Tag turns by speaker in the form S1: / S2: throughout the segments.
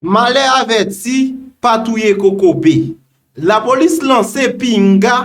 S1: Malè avèti pa touye kokobe. Lapolis lanse pinga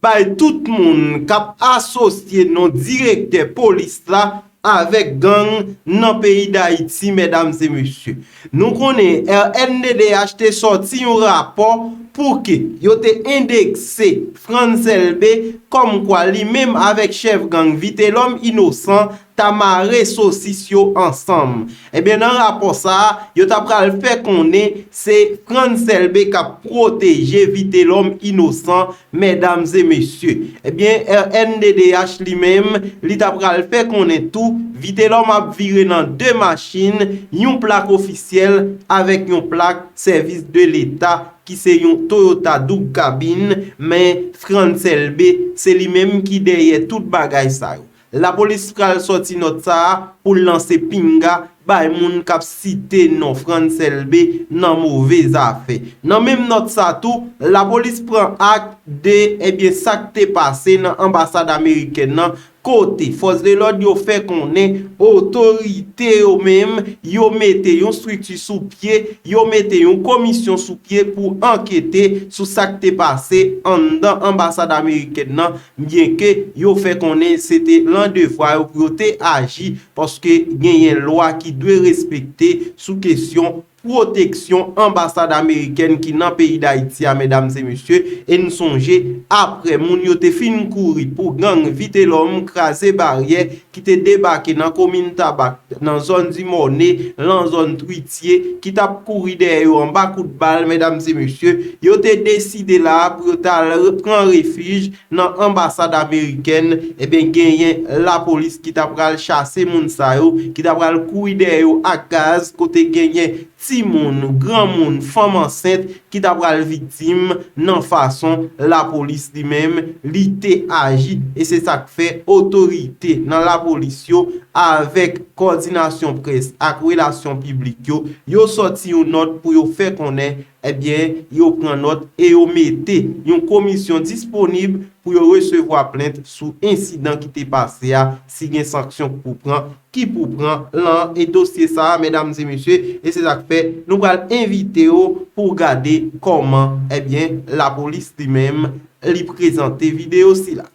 S1: bay tout moun k ap asosye non direktè polis la avèk gang nan peyi Dayiti mèdam e mesye. Nou konnen rnddh te sòti yon rapò pou ke yo te endekse Frantz Elbe kòmkwa li menm avèk chèf gang Vitelòm Inosan ta mare sosis yo ansanm. Ebyen nan rapò sa a, yo ta pral fè konnen se Frantz Elbé k ap pwoteje Vitelòm inosan mèdamzemesye. Ebyen rnddh li menm, li ta pral fè konnen tou Vitelòm ap vire nan 2 machin, yon plak ofisyèl avèk yon plak sèvis de leta ki se yon Toyota doub kabin, men Frantz Elbé se li menm ki dèyè tout bagay sa yo. Lapolis pral sòti nòt sa a pou l lanse pinga bay moun k ap site non Frantz Elbé nan move zafè. Nan menm nòt sa tou, lapolis pran ak de ebyen sa k te pase nan anbasad amerikèn nan kote fòs de lòd yo fè konnen otorite yo menm yo mete yon strikti sou pye, yo mete yon komisyon sou pye pou ankete sou sa k te pase anndan anbasad amerikèn nan Byenke yo fè konnen se te lan devwa yo pou yo te aji paske genyen lwa ki dwe respekte sou kesyon pwoteksyon anbasad amerikèn ki nan peyi Dayiti a medam e mesye e n sonje apre moun yo te fin kouri pou gang Vitelòm kraze baryè ki te debake nan komin Tabak, nan zòn di Mòne, lan zòn Twitye, ki t ap kouri dèyè yo anba kout bal, medam e mesye, yo te deside la a pou yo t al pran refij nan anbasad amerikèn, e ben genyen lapolis ki ta pral chase moun sa yo, ki ta pral kouri dèyè yo ak gaz, kote genyen timoun, granmoun, fanm ansent ki ta pral viktim nan fason lapolis li menm li te aji e se sa k fè otorite nan lapolis yo avèk kòdinasyon près ak relasyon piblik yo, yo sòti yon nòt pou yo fè konnen ebyen yo pran nòt e yo mete yon komisyon disponib pou yo resevwa plent sou ensidan ki te pase a si gen sanksyon k pou pran ki pou pran lan e dosye sa a medam e mesye e se sak fè nou pral envite yo pou w gade kòman ebyen lapolis li menm li prezante video sila.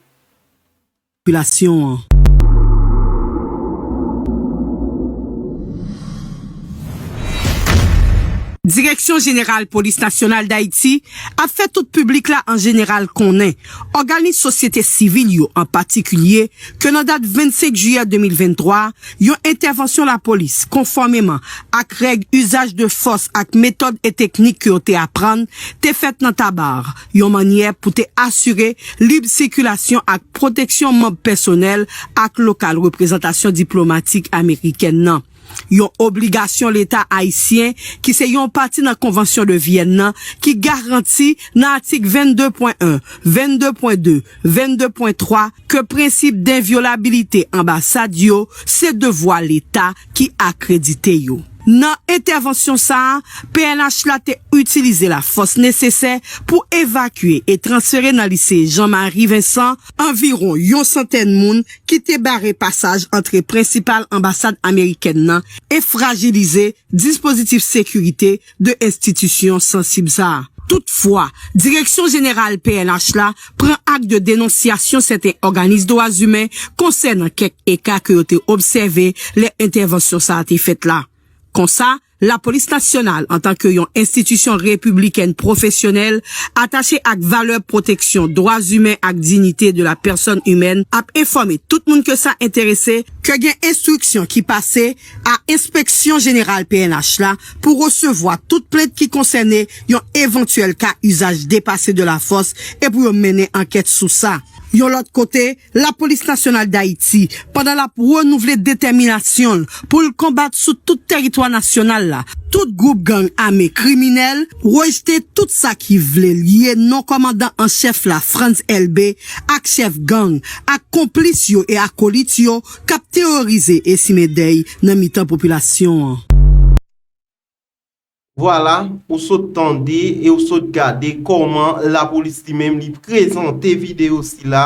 S1: Popilasyon
S2: an. Direksyon Jeneral Polis Nasyonal Dayiti ap fè tout piblik la an jeneral konnen. Òganis sosyete sivil yo an patikilye ke nan dat 25 jiyè 2023, yon entèvansyon lapolis konfòmeman ak règ uzaj de fòs ak metòd e teknik ke yo te aprann, te fèt nan Tabarre, yon mannyè pou te asire lib sikilasyon ak pwoteksyon manb pèsonèl ak lokal reprezantasyon diplomatik amerikèn nan. yon obligasyon Leta ayisyen ki se yon pati nan Konvansyon de Vyèn nan ki garanti nan atik 22 pwen 1, 22 pwen 2, 22 pwen 3 ke prensip denvyolabilite anbasad yo se devwa Leta ki akredite yo. Nan entèvansyon sa a, pnh la te itilize lafòs nesesè pou evakye e transfere nan Lise Jean Marie Vincent anviwon yon santèn moun ki te bare pasaj antre prensipal anbasad amerikèn nan e frajilize dispozitif sekirite 2 enstitisyon sansib sa a. Toutfwa, Direksyon Jeneral pnh la pran ak de denonsyasyon sèten òganis dwazimen konsènan kèk eka ke yo te obsève lè entèvansyon sa a te fèt la. Konsa, Lapolis Nasyonal, antanke yon enstitisyon repiblikèn pwofesyonèl, atache ak valè pwoteksyon dwa imen ak dignite de la personne humaine, ap enfòme tout moun ke sa enterese, ke gen enstriksyon ki pase a Enspeksyon Jeneral pnh la pou resevwa tout plent ki konsène yon evantyèl ka uzaj depase de la fòs e pou yo mennen ankèt sou sa. Yon lòt kote, Lapolis Nasyonal Dayiti, pandan l ap renouvle detèminasyon l pou l konbat sou tout tèritwa nasyonal la, tout gwoup gang ame kriminèl, rejte tout sa ki vle lye non kòmandan an chèf la, Frantz Elbé, ak chèf gang, ak konplis yo e akolit yo k ap teworize e simen dèy nan mitan popilasyon an.
S1: Vwala, ou sot tande e ou sot gade kòman lapolis li menm li prezante videyo sila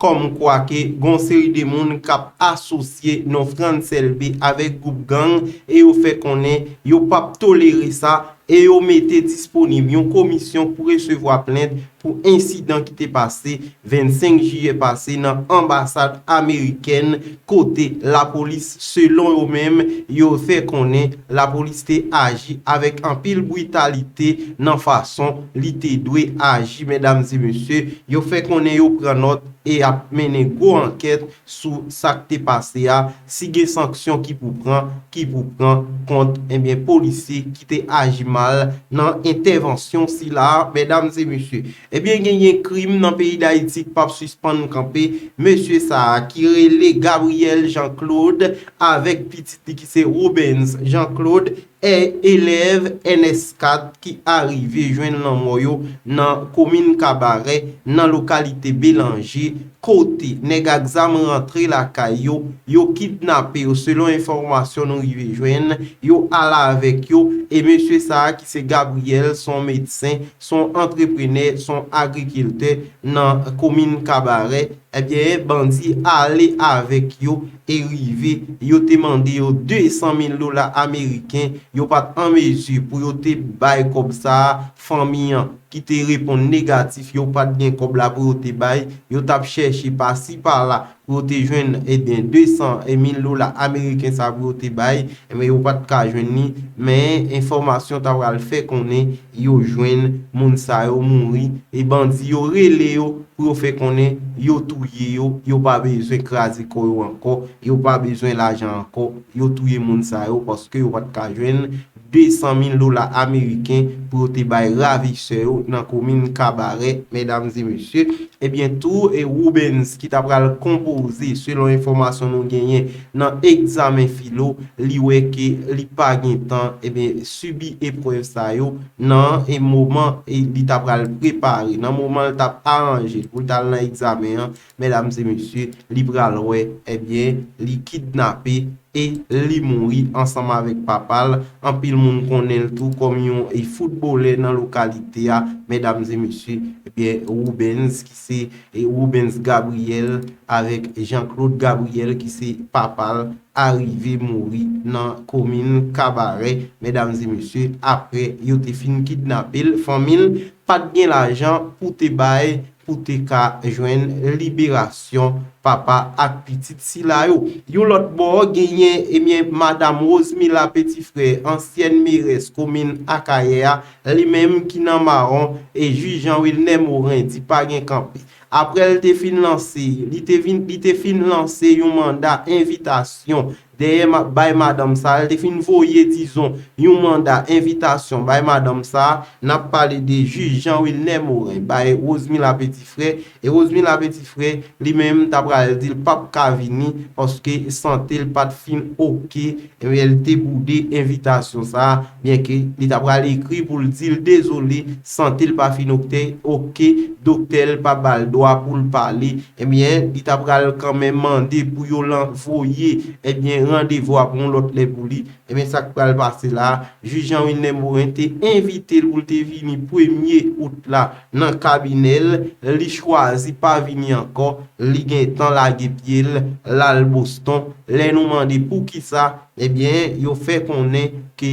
S1: kòm kwa ke gon seri de moun k ap asosye non Frantz Elbe avèk gwoup gang e yo fè konnen yo p ap tolere sa e yo mete disponib yon komisyon pou resevwa plent pou ensidan ki te pase 25 jiyè pase nan anbasad amerikèn kote lapolis selon yo menm yo fè konnen lapolis te aji avèk anpil britalite nan fason li te dwe aji medam e mesye yo fè konnen yo pran nòt e ap mennen gwo ankèt sou sak te pase a si gen sanksyon ki pou pran ki pou pran kont ebyen polisye ki te aji mal nan entèvansyon sila a mèdam e mesye ebyen gen gen krim nan peyi dayiti k pap sispann kanpe mesye sa a ki rele Gabriel Jean Claude avèk pitit li ki se Robens Jean Claude 1 elèv ns 4 ki arive jwenn lanmò yo nan komin Kabarè nan lokalite Belanje kote nèg ak zam rantre lakay yo, yo kidnape yo selon enfòmasyon nou rive jwenn, yo al avèk yo e mesye sa a ki se Gabriel son medsen, son antreprenè, son agrikiltè nan komin Kabarè, ebyen bandi ale avèk yo. te rive, yo te mande yo 200 mil dola ameriken, yo pa t an mezi pou yo te bay kòb sa a, fanmi an, ki te reponn negatif, yo pa t gen kòb la pou yo te bay, yo t ap chèche pa si pa la pou yo te jwenn, enben, 200 mil dola ameriken sa a pou yo te bay, enben, yo pa t ka jwenn li, men, enfòmasyon ta pral fè konnen, yo jwenn moun sa yo mouri e bandi yo rele yo pou yo fè konnen yo touye yo, yo pa bezwen kraze kò yo ankò, yo pa bezwen lajan ankò, yo touye moun sa yo paske yo pa t ka jwenn 200 mil dola ameriken pou yo te bay ravisè yo nan komin Kabarè, medam e mesye. Ebyen tou e Rubens ki ta pral konpoze selon enfòmasyon nou genyen nan egzamen filo li wè ke li pa gen tan ebyen sibi eprèv sa yo nan e moman e li ta pral prepare, nan moman l tap aranje l pou l tal nan egzamen an, medam e mesye, li pral wè, ebyen, li kidnape e li mouri ansanm avèk papa l, anpil moun konnen l tou kòm yon e foutbolè nan lokalite a, medam e mesye, ebyen, Roubens ki se e Roubens Gabriel avèk Jean Claude Gabriel ki se papa l, arive mouri nan komin kabarè medam e mesye aprè yo te fin kidnapel fanmil pat gen lajan pou te bay pou te ka jwenn liberasyon papa ak pitit sila yo yon lòt bò genyen ebyen madam Rosemila Petifrè ansyèn merès komin akayè a li menm ki nan mawon e jij Jean Wilner Morin di pa gen kanpe Apre l te fin lanse, li te vin, li te fin lanse yon manda envitasyon dèyè ma, bay madanm sa a, li te fin voye, dizon, yon manda envitasyon bay madanm sa a, n ap pale de jij Jean Wilner Morin, bay Rosemila Petit-Frère, e Rosemila Petit-Frère, li menm, ta pral di l pa p ka vini, paske sante l pa t fin oke, Ariel te boude envitasyon sa a byenke li ta pral ekri pou l di l dezole sante l pa fin okte ok doktè l pa ba l dwa pou l pale ebyen li ta pral kanmenm mande pou yo lan voye ebyen randevou a pou yon lòt lè pou li ebyen sa k pral pase la a jij Jean Wilner Morin te envite l pou l te vini premye out la nan kabinè l, li chwazi pa vini ankò, li gentan lage pye l, l al Boston, lè nou mande poukisa, ebyen yo fè konnen ke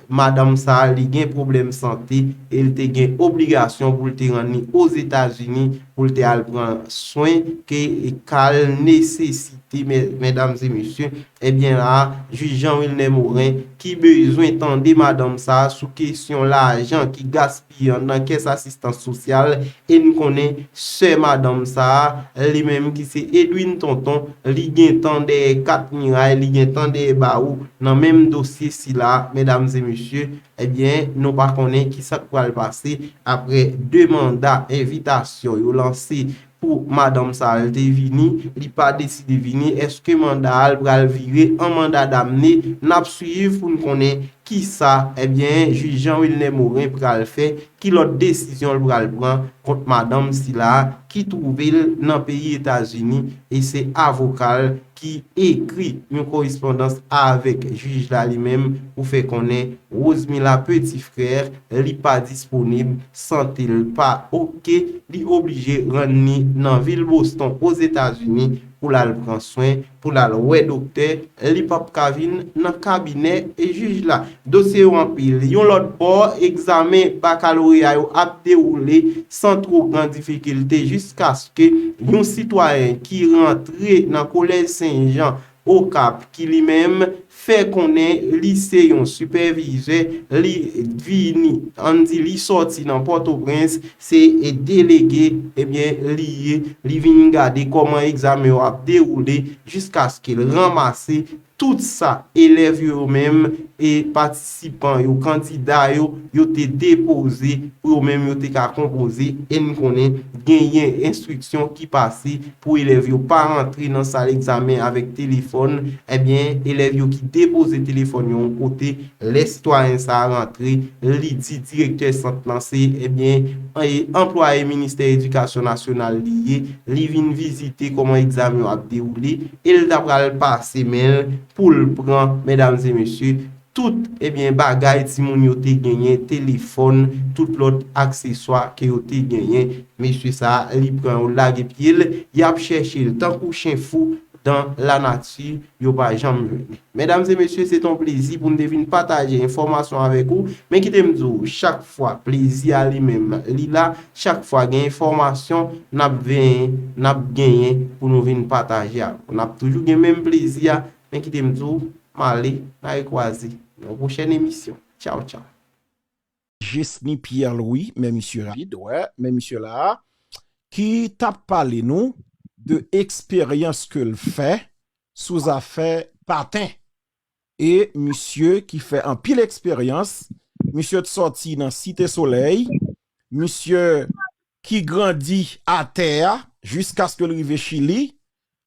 S1: madanm sa li gen pwoblèm sante e l te gen obligasyon pou l te rann li Ozetazini pou l te al pran swen ke ka l nesesite medam e mesye, ebyen la a jij Jean Wilner Morin ki bezwen tande madanm sa sou kesyon lajan ki gaspiye. Yon nan kès asistans sosyal e n konnen sè madanm sa a li menm ki se Edwine Tonton li gen tan dèyè kat miray li gen tan dèyè bawo nan menm dosye sila medam e mesye ebyen nou pa konnen ki sa k pral pase aprè 2 manda envitasyon yo lanse Pou madanm sa al te vini li pa deside vini eske manda al pral vire an manda damne nap swiv poun konnen kisa ebyen jij Jean Wilner Morin pral fè ki lòt desizyon l pral pran kont madanm sila ki twouve l nan peyi etazini e se avokal ki ekri yon korespondans avèk jij la li menm pou fè konnen Rosemila Petit Frère li pa disponib, sante l pa ok, li oblije rann ni nan vil Boston Ozetazini pou l al pran swen, pou l al wè doktè, li pap ka vin nan kabinè jij la. Dosye yo anpil. Yon lòt bò, egzamen bakaloreya yo ap dewoule san twò gran difikilte jiskaske yon sitwayen ki rantre nan Kolèj Sen Jan, Okap, ki li menm fè konnen li se yon sipèvizè, li vini, ann di li sòti nan Pòtoprens, se delege, ebyen li ye, li vin gade kòman egzamen yo ap dewoule jiskaske l ranmase. Tout sa elèv yo yo menm e patisipan yo, kandida yo, yo te depoze pou yo menm yo te ka konpoze e n konnen genyen enstriksyon ki pase pou elèv yo pa rantre nan sal egzamen avèk telefòn, ebyen elèv yo ki depoze telefòn yo yon kote, lè sitwayen sa a rantre, li di direktè sant lan se, ebyen, anplwaye Ministè Edikasyon Nasyonal li ye. li vin vizite kòman egzamen yo ap dewoule e l ta pral pase men l pou l pran, medam e mesye, tout, ebyen, bagay timoun yo te genyen, telefòn, tout lòt akseswa ke yo te genyen. Mesye sa a, li pran yo lage pye l, y ap chèche l tankou chen fou. Dan la nati yo pa janm vini. Medam e mesye se ton plezi pou m te vin pataje enfòmasyon avèk ou, men kite m di w chak fwa plezi a li menm li la, chak fwa gen enfòmasyon nap venyen, nap genyen pou nou vin pataje avèk ou. Nap toujou gen menm plezi a, men kite m di w, male na rekwaze nan yon pwochèn emisyon. Tchaw tchaw.
S3: Jesny Pierre Louis men misye rapid wè men misye la ki tap pale nou de eksperyans ke l fè sou zafè paten e misye ki fè anpil eksperyans misye t sòti nan site solèy misye ki grandi atè a jiskaske l rive Chili,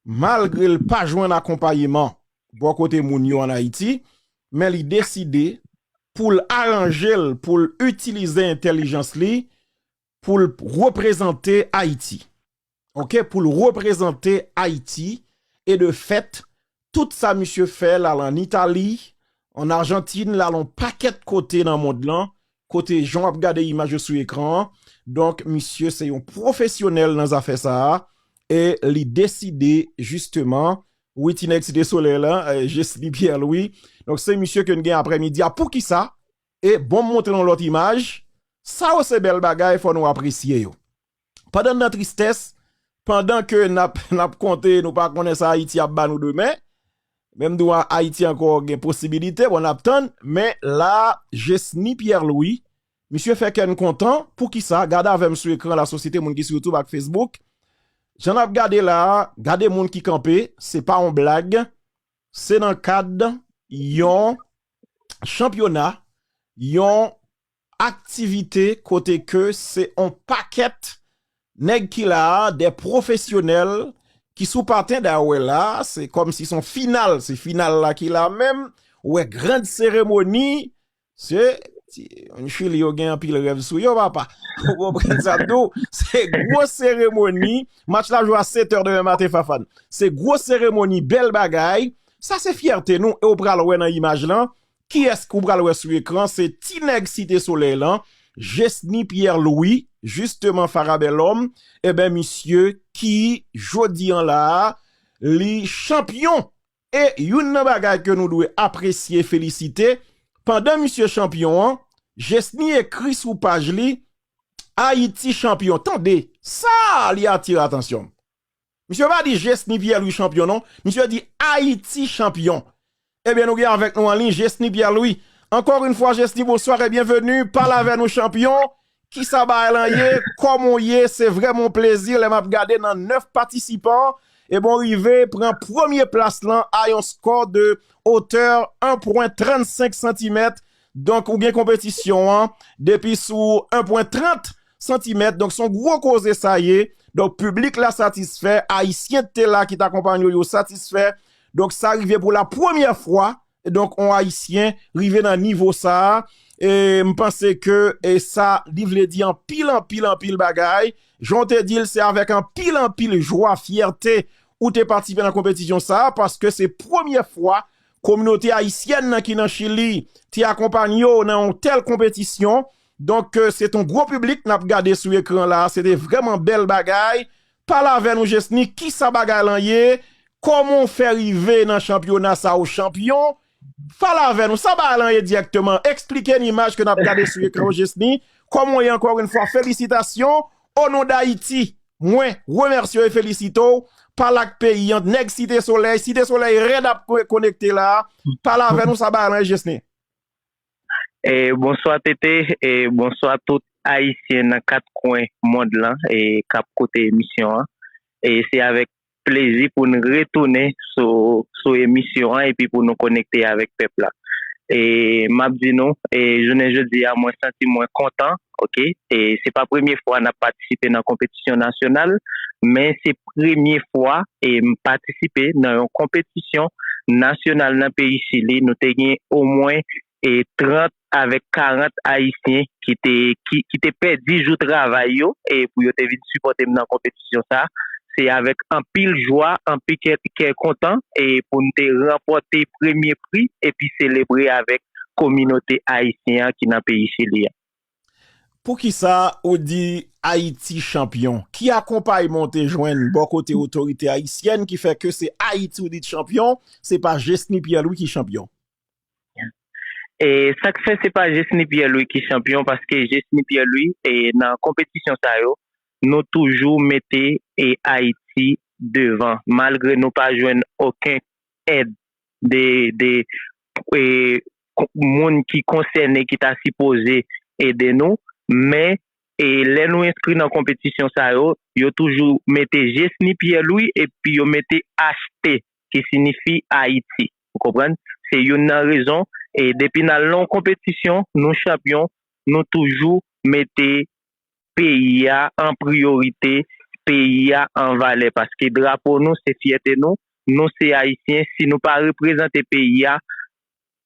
S3: malgre l pa jwenn akonpayeman bò kote moun yo an Ayiti, men li deside pou l aranje l pou l itilize entèlijans li pou l reprezante Ayiti. Ok, pou l reprezante Ayiti e de fèt Tout sa misye fè l al an Itali, an Arjantin, l al on pakèt kote nan mond lan, kote jan w ap gade imaj yo sou ekran an. Donk misye se yon pwofesyonèl nan zafè sa a e li deside jisteman, wi ti nèg Site Solèy la, Jesly Pierre Louis, donk se misye ke n gen aprèmidi a. Poukisa? E bon m montre w lòt imaj, sa yo se bèl bagay fò nou apresye yo. Pandan n nan tristès, pandan ke n ap n ap konte nou pa konnen sa Ayiti ap ba nou demen, men m di w Ayiti ankò gen posibilite, bon n ap tann, men la a Jesny Pierre Louis, misye fè kè n kontan, poukisa, gade avè m sou ekran lasosyete moun ki sou youtube ak facebook, jan n ap gade la a, gade moun ki kanpe, se pa yon blag, se nan kad yon chanpyona, yon Aktivite kote ke se on pakèt nèg ki la a, dè pwofesyonèl ki sou paten da wè la a, se kòm si son final, se final la ki la menm, ou wè grand seremoni, se, ti moun chili yo gen anpil rèv sou yo papa, ou konprann sa m di w, se gwo seremoni, match la jwe a 7 è demen maten Fafane, se gwo seremoni, bèl bagay, sa se fyète nou e ou pral wè nan imaj lan, Kiyès ke w pral wè sou ekran se ti nèg site solèy lan Jesny Pierre Louis jisteman Fara Bèlòm eben misye ki jodi an la a li chanpyon e youn nan bagay ke nou dwe apresye felisite pandan misye chanpyon an Jesny ekri sou paj li Ayiti chanpyon tande sa li atire atansyon m. Misye pa di Jesny Pierre Louis chanpyon non, misye di Ayiti chanpyon. Ebyen nou gen avèk nou anliy Jesny Pierre Louis. Ankò yn fwa Jesny bonsoir e byenveni, pale avè nou chanpyon, kisa bagay lan ye, kòman w ye, se vrèman yon plezi lè map gade nan 9 patisipan, ebon rive pran premye plas lan a yon skò de otè 1 pwen 35 santimèt, Donk ou gen konpetisyon an depi sou 1 pwen 30 santimèt donk son gwo koze sa ye donk piblik la satisfè ayisyen te la ki t akonpanyew yo satisfè donk sa rive pou la premyè fwa donk on ayisyen rive nan nivo sa e m panse ke e sa li vle di anpil anpil anpil bagay jan w te dil se avèk anpil anpil jwa fyète ou te patisipe nan konpetisyon sa paske se premyè fwa Kominote ayisyèn nan ki nan Chili te akonpanye w nan yon tèl konpetisyon. Donk se ton gwo piblik n ap gade sou ekran la a. Se te vrèman bèl bagay. Pale avè nou Jesny, kisa bagay lan ye? Kòman w fè rive nan chanpyona sa a ou chanpyon? Pale avè nou, sa bagay lan ye dirèkteman? Eksplike n imaj ke n ap gade sou ekran yo Jesny. Kòman w ye ankò yon fwa? Felisitasyon! O non dayiti mwen remèsye w e felisite w pale ak peyi an nèg site solèy site solèy rèd ap konekte la pale avè nou sa bay lan jesne.
S4: Bonswa TT e bonswa tout ayisyen nan 4 kwen mond lan e kap koute emisyon an e se avèk plezi pou n retounen sou emisyon an epi pou nou konekte avèk pèp la. E m ap di nou, e jounen jodi a mwen santi mwen kontan ok. E se pa premye fwa n ap patisipe nan konpetisyon nasyonal, men se premye fwa e m patisipe nan yon konpetisyon nasyonal nan peyi Chili. Nou te gen omwen e 30 avèk 40 ayisyen ki te ki te pèdi jou travay yo e pou yo te vin sipòte m nan konpetisyon sa se avèk anpil jwa anpi kè kè kontan e pou n te ranpòte premye pri epi selebre avèk kominote ayisyen an ki nan peyi chili an.
S3: Poukisa ou di Ayiti chanpyon? Ki akonpayman ou te jwenn bò kote otorite ayisyèn ki fè ke se Ayiti ou di t chanpyon se pa Jesny Pierre Louis ki chanpyon? E
S4: sak fè se pa Jesny Pierre Louis ki chanpyon paske Jesny Pierre Louis e nan konpetisyon sa yo nou toujou mete e Ayiti devan malgre nou pa jwenn oken èd de de e moun ki konsène ki ta sipoze ede nou men e lè nou enskri nan konpetisyon sa yo yo toujou mete Jesny Pierre Louis epi yo mete HT ki sinifi Ayiti. Ou konprann? Se youn nan rezon e depi n al nan yon konpetisyon, nou chanpyon, nou toujou mete peyi a an priyorite, peyi a an valè paske drapo nou se fyète nou, nou se Ayisyen, si nou pa reprezante peyi a,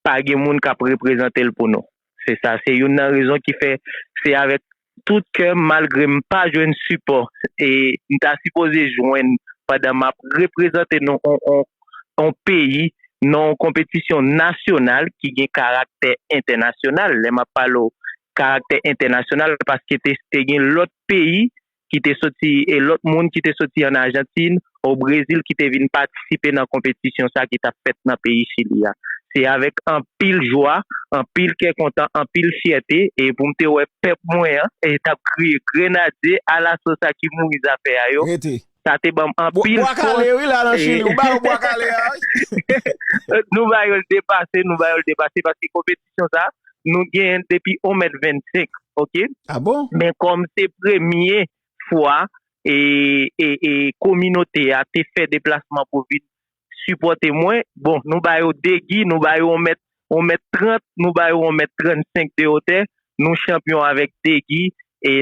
S4: pa gen moun k ap reprezante l pou nou. Se sa, se youn nan rezon ki fè se avèk tout kèm malgre m pa jwenn sipò m ta sipoze jwenn pandan map reprezante non yon peyi nan yon konpetisyon nasyonal ki gen karaktè entènasyonal lè map pale w karaktè entènasyonal paske te gen lòt peyi ki te soti e lòt moun ki te soti an Argentine o Brezil ki te vin patisipe nan konpetisyon sa ki tap fèt nan peyi Chili a. Se avèk anpil jwa, anpil kè kontan, anpil fyète e pou m te wè pèp mwen an tap kriye Grenadye alaso sa ki mouri zafè a yo, sa te banm anpil fòs e nou ba yo l depase, nou ba yo l depase paske konpetisyon sa nou genyen l depi 1 mèt 25 ok men
S3: kòm se
S4: premye fwa kominote a te fè deplasman pou vin sipòte mwen, bon nou ba yo 2 gi, nou ba yo 1 mèt, 1 mèt 30, nou ba yo 1 mèt 35 de otè, nou chanpyon avèk 2 gi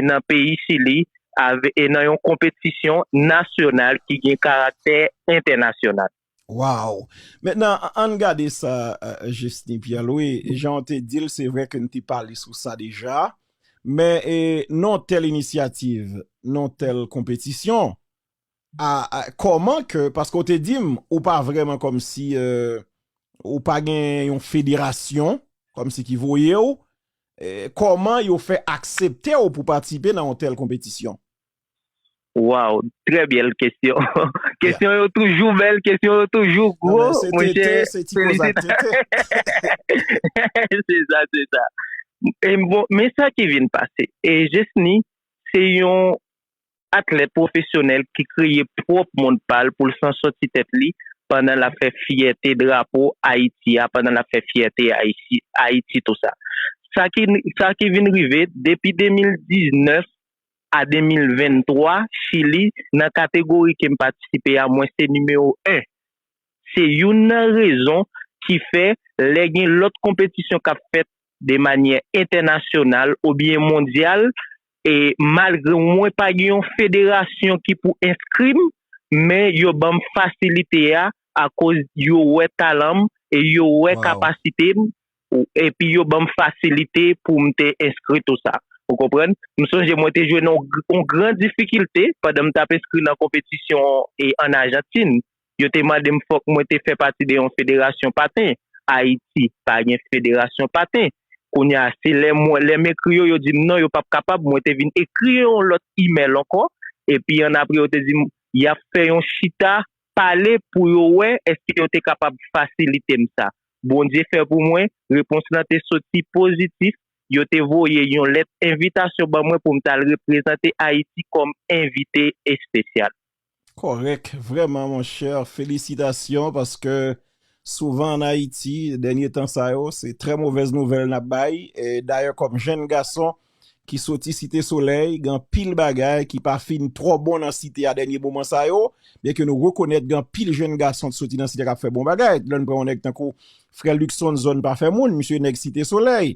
S4: nan peyi Chili nan yon konpetisyon nasyonal ki gen karaktè entènasyonal. Waww
S3: men nan ann gade sa Justin Pierre Louis jan w te di l se vre ke n te pale sou sa deja men non tèl inisyativ non tèl konpetisyon a kòman ke paske w te di m ou pa vreman kòm si ou pa gen yon federasyon kòm si ki voye w kòman yo fè aksepte w pou patisipe nan yon tèl konpetisyon.
S4: Waw trè byèl kesyon kesyon yo toujou bèl kesyon yo toujou gwo mwen chè se sa se sa men sa ki vin pase e jesni se yon atlèt pwofesyonèl ki kreye pwòp mond pal poul san sòti tèt li pandan lap fè fyète drapo ayiti ya pandan lap fè fyète ayiti tou sa sa ki vin rive depi 2019 a 2023 Chili nan kategori kem patisipe a mwen se nimewo 1 se youn nan rezon ki fè lè gen lòt konpetisyon kap fèt de manyè entènasyonal obyen mondyal e malgre mwen pa gen yon federasyon ki pou enskrim men yo banm fasilite a akoz yo wè talanm e yo wè kapasitem Epi yo banm fasilite pou m te enskri tou sa. Ou konprann? M sonje mwen te jwenn yon gran difikilte pandan m t ap enskri nan konpetisyon ann Ajantin. Yo te mande m fòk mwen te fè pati de yon federasyon paten. Ayiti pa gen federasyon paten. Kounye a, se lè mwen, lè m ekri yo, yo di m non, yo p ap kapab. Mwen te vin ekri yo yon lòt imèl ankò. Epi annapre, yo te di m y ap fè yon chita pale pou yo wè èske yo te kapab fasilite m sa. Bondye fè pou mwen, repons lan te soti pozitif, yo te voye yon lèt envitasyon ban mwen pou m t al reprezante Ayiti kòm envite espesyal. Kòrèk
S3: vrèman monchè, felisitasyon paske souvan an Ayiti dènye tan sa yo se trè movèz nouvèl n ap bay, dayè kòm jenn gason ki soti site solèy gen anpil bagay ki pa fin twò bon nan site a dènye moman sa yo byen ke nou rekonèt gen anpil jenn gason k soti nan site a k ap fè bon bagay lè n pran yon nèg tankou frè Luckson zòn pa fè moun misye nèg site solèy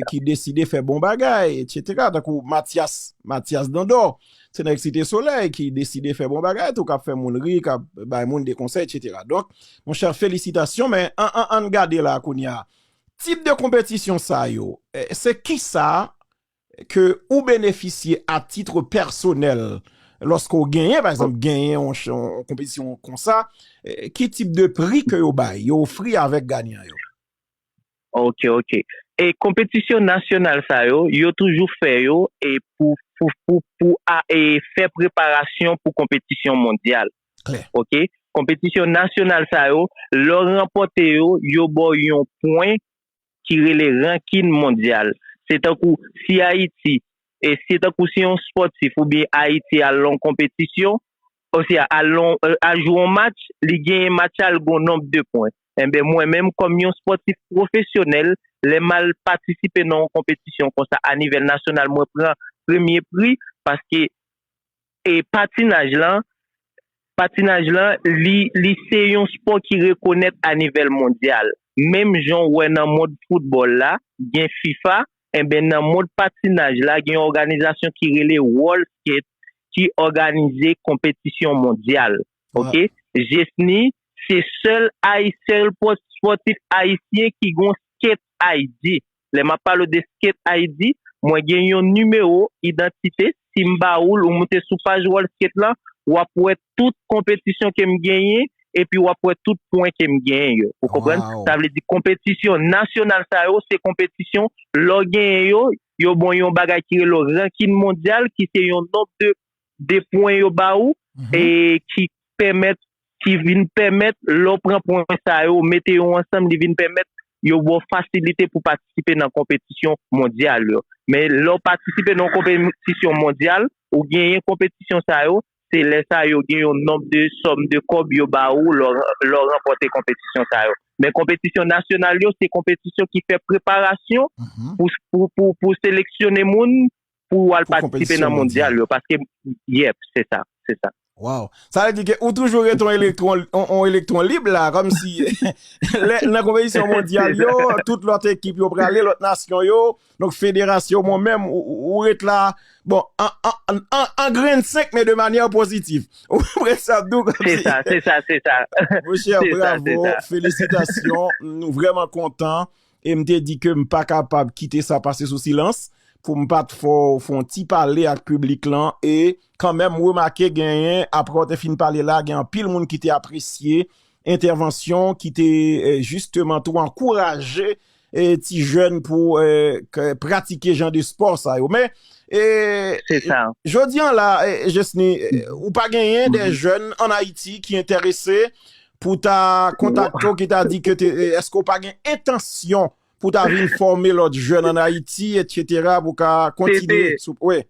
S3: ki deside fè bon bagay etsetera tankou Matyas Matyas Dandò se nèg site solèy ki deside fè bon bagay tou k ap fè moun ri k ap bay moun de konsèy etsetera donk monchè felisitasyon men an an an n gade la kounye a Tip de konpetisyon sa yo, se kisa ke ou benefisye a titre pèsonèl lòske ou genyen, pa egzanp, genyen yon konpetisyon konsa, ki tip de pri ke yo bay, yo ofri avèk ganyan yo? Ok,
S4: ok. E konpetisyon nasyonal sa yo, yo toujou fè yo e pou, pou, pou, pou a e fè preparasyon pou konpetisyon mondyal. Klè.
S3: Ok, konpetisyon
S4: nasyonal sa yo, lè w ranpòte yo, yo ba w yon pwen ki rele rankin mondyal. Se tankou si Ayiti, se tankou si yon spòtif oubyen Ayiti al nan yon konpetisyon, osya al jwe yon match, li genyen match sa, li gen yon nonb de pwen. Enben mwen menm kòm yon spòtif pwofesyonèl, lè m al patisipe nan yon konpetisyon konsa a nivèl nasyonal, mwen pran premye pri paske e patinaj lan, patinaj lan li li se yon spò ki rekonèt a nivel mondyal. Menm jan w wè nan mond foutbòl la gen fifa, enben nan mond patinaj la gen yon òganizasyon ki rele World Skate ki òganize konpetisyon mondyal ok. Jesny se sèl ayi sèl spòtif ayisyen ki gon Skate ID. Lè map pale w de Skate ID, mwen gen yon nimewo idantite, si m ba ou l, ou moute sou paj World Skate lan, wap wè tout konpetisyon ke m genyen, epi wap wè tout pwen ke m genyen yo. Ou konprann? Sa vle di konpetisyon nasyonal sa yo, se konpetisyon lè w genyen yo, yo ban w yon bagay ki rele w rankin mondyal, ki se yon nonb de de pwen yo ba ou e ki pèmèt ki vin pèmèt lè w pran pwen sa yo ou mete yo ansanm li vin pèmèt yo ba w fasilite pou patisipe nan konpetisyon mondyal yo men lè w patisipe nan yon konpetisyon mondyal ou genyen konpetisyon sa yo se lè sa yo gen yon nonb de sòm de kòb yo ba ou lè w ranpòte konpetisyon sa yo men konpetisyon nasyonal yo se konpetisyon ki fè preparasyon pou pou seleksyone moun pou ou al patisipe nan mondyal yo paske yep se sa se sa. Waww
S3: sa vle di ke ou toujou ret yon elektwon yon elektwon lib la kòmsi lè nan konpetisyon mondyal yo tout lòt ekip yo prale lòt nasyon yo donk federasyon mwen menm ou ret la bon an grenn senk men de manyè pozitif ou konprann sa map di w se sa se sa se sa monchè bravo felisitasyon nou vrèman kontan e m te di ke m pa kapab kite sa pase sou silans pou m pat fè yon ti pale ak piblik lan e kanmenm m remake genyen apre w te fin pale la gen anpil moun ki te apresye entèvansyon ki te jisteman tou ankouraje ti jèn pou pratike jan de spò sa yo men e
S4: jodi an la
S3: Jesny ou pa genyen de jèn an Ayiti ki entèrese pou ta kontakte w ki ta di ke te, eske w pa gen entansyon pou ta vin fòme lòt jèn an Ayiti et cetera pou ka kontinye sou, wi.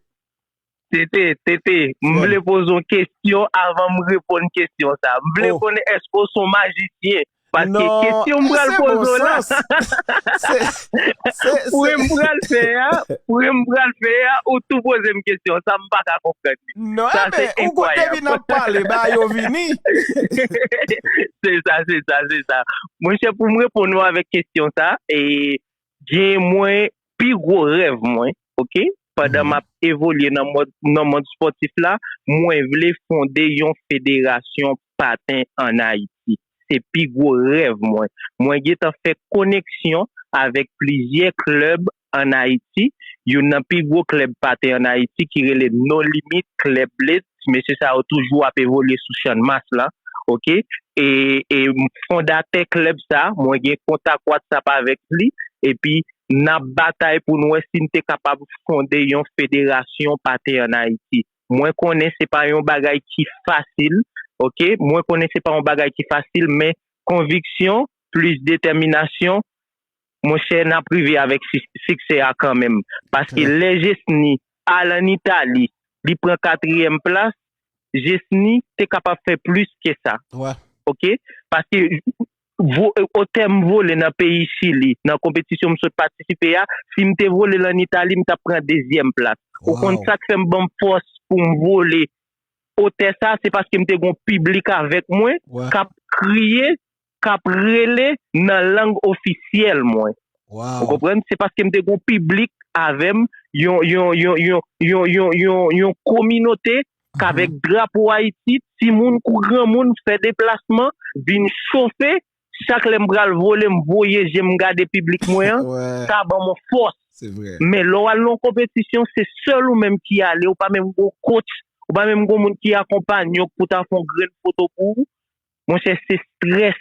S3: TT,
S4: TT, m vle poze yon kesyon avan m reponn kesyon sa. M vle konnen eske w son majisyen? Paske kesyon m pral poze w la, pwen m pral fè a, pwen m pral fè a, ou tou poze m kesyon sa, m pa ka konprann. Non sa se
S3: enkwayab. Ou gon depi nan pale ba yo vini.
S4: Se sa se sa se sa. Mwen chè pou m reponn ou avèk kesyon sa e gen mwen pi gwo rèv mwen ok pandan m ap evolye nan mond nan mond spòtif la mwen vle fonde yon federasyon paten an Ayiti se pi gwo rèv mwen mwen gentan fè koneksyon avèk plizyè klèb An Ayiti, youn nan pi gwo klèb paten an Ayiti ki rele No Limit Club Blitz, mesye sa yo toujou ap evolye sou channmas la ok e e fondatè klèb sa mwen gen kontak whatsapp avèk li epi nap batay poun wè sin te kapab fonde yon federasyon paten an Ayiti mwen konnen se pa yon bagay ki fasil ok mwen konnen se pa yon bagay ki fasil men konviksyon plis detèminasyon monchè nap rive avèk siksè a kanmenm paske lè Jesny al an Italie li pran katriyèm plas Jesny te kapab fè plis ke sa ok paske otèm vole nan peyi chili nan konpetisyon m sot patisipe a sim te vole l an Italie m tap pran dezyèm plas ou konn sak fèm banm fòs poum vole otè sa se paske m te gon piblik avèk mwen kap kriye k ap rele nan lang ofisyèl mwen. Ou konprann? Se paske m te gen yon piblik avè m, yon kominote k avèk drapo Ayiti, timoun kou granmoun, fè deplasman, vin chofe. Chak lè m pral vole, m voye je m gade piblik mwen an, sa ban m yon fòs. Men, lè
S3: w al nan yon
S4: konpetisyon, se sèl ou menm ki ale, ou pa menm gen yon coach, ou pa menm gen yon moun ki akonpanye w pou ta fè yon grenn foto pou ou. Monchè se stress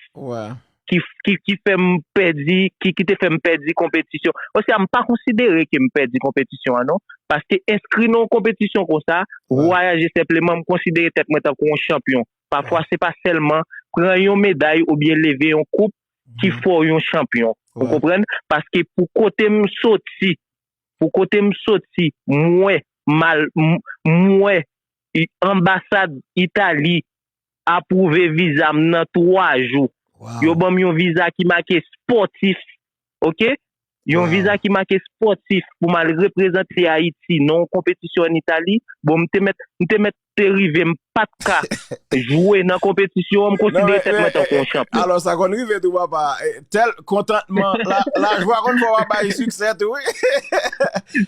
S3: ki
S4: fèm pèdi, ki te fèm pèdi konpetisyon. Osea m pa konsidere ke m pèdi konpetisyon an non. Paske enskri nan yon konpetisyon konsa, vwayaje senpleman m konsidere tèt mwen tankou yon chanpyon. Pafwa se pa sèlman pran yon meday oubyen leve yon koup ki fè w yon chanpyon. Ou konprann? Paske pou kote m soti, pou kote m soti m wè mal, m wè anbasad Italie apwouve viza m nan 3 jou. Yo banm yon viza ki make spòtif ok. Yon viza ki make spòtif pou m al reprezante Ayiti nan yon konpetisyon an Itali. Bon m te mèt m te mèt te rive m pa t ka jwe nan konpetisyon an, m konsidere tèt mwen tankou yon chanpyon. Alò sa konn rive tou
S3: papa. Tèl kontantman, lajwa konn fè w ap bay siksè tou wi.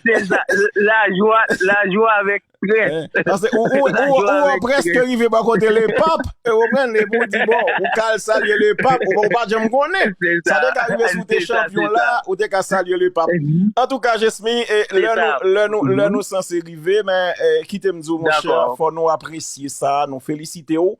S4: Se sa, lajwa, lajwa avèk
S3: Ou preske rive ba kote le pap E ou pren le pou di bon Ou kal salye le pap Ou pa jem konen Sa de ka rive sou te chanpyon la Ou te ka salye le pap An tou ka jesmi Le nou san se rive Men kite m di ou monche Fò nou apresye sa Nou felisite ou